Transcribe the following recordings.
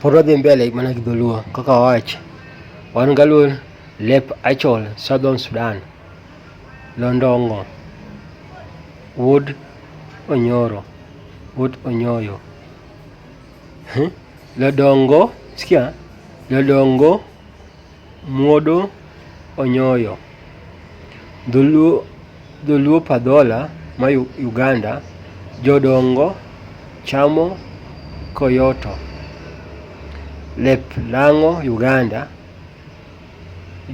Pod wadhi mbele mana gi dholuo kaka wawacho. Wan galuo lep achol Southern Sudan. Londongo. Wuod Onyoro. Wuod Onyoyo. Lodongo. Sikia. Lodongo. Muodo Onyoyo, Dholuo Dholuo Padhola ma Uganda, Jodongo chamo koyoto, lep lang'o Uganda,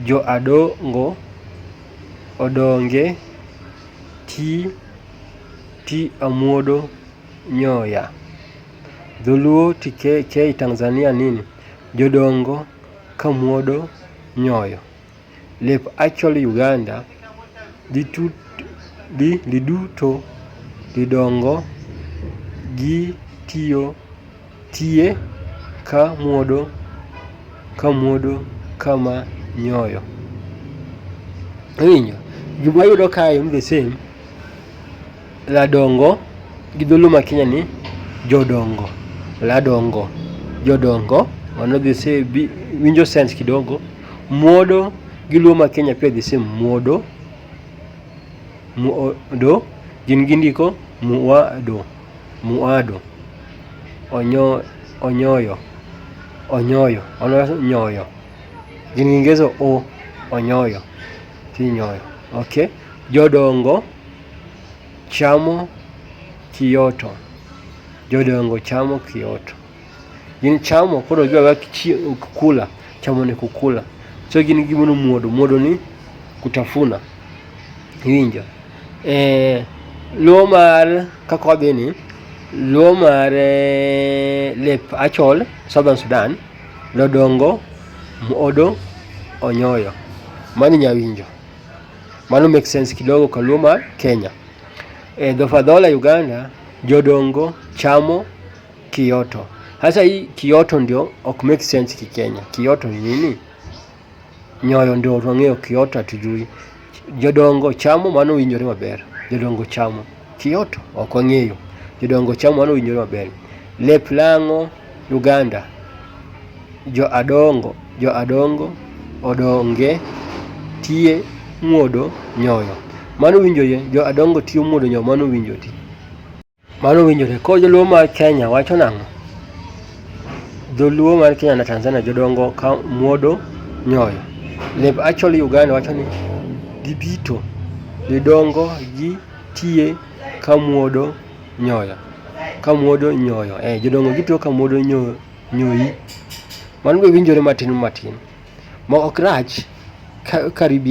jo Adongo odonge ti ti amuodo nyoya. Dholuo TK Tanzania nini, Jodongo. kamuodo nyoyo. Lep Achiel Uganda liduto lidongo gi tiyo tie ka muodo ka muodo kama nyoyo. Iwinjo? Gima wayudo kae en the same. Ladongo gi dholuo ma Kenya ni jodongo, ladongo, jodongo mano the same bi winjo sense kidogo. Muodo gi luo ma Kenya pia the same muodo, muodo gin gindiko muado, muado. Onyo, onyoyo, onyoyo, onyoyo gin gi ngeso o, onyoyo, kinyoyo, okay. Jodongo. chamo kioto, jodongo chamo kioto. Gin chamo koro giwaga kukula, chamo ni kukula. So gin gimono muodo, muodo ni kutafuna. Iwinjo? Eh, luo mar kaka wadhi ni, luo mar eh, lep achol, Southern Sudan, lodongo, muodo, onyoyo. Mani nyawinjo. Mano make sense kidogo kaluo mar Kenya. E Dhofadhola Uganda jodongo chamo kioto. Sasa hii kioto ndio ok make sense kikenya. Kioto ni nini? Nyoyo ndio wang'eyo, kioto hatujui. Jodongo chamo mano winjore maber. Jodongo chamo. Kioto ok wang'eyo. Jodongo chamo mano winjore maber. Lep lang'o Uganda. Jo adongo, jo adongo, odonge, tie, muodo, nyoyo. Mano winjore, jo adongo tiyo muodo nyoyo, mano winjore. Mano winjore. Koro joluo mar Kenya wacho nang'o? Joluo mar Kenya na Tanzania jodongo ka muodo nyoyo. Lep actually Uganda wacho ni gibito, gidongo gi tiye ka muodo nyoyo, ka muodo nyoyo. Eh, jodongo gitiyo ka muodo nyoyo, nyoyi. Mano be winjore matin matin. Ma ok rach ka, karibia.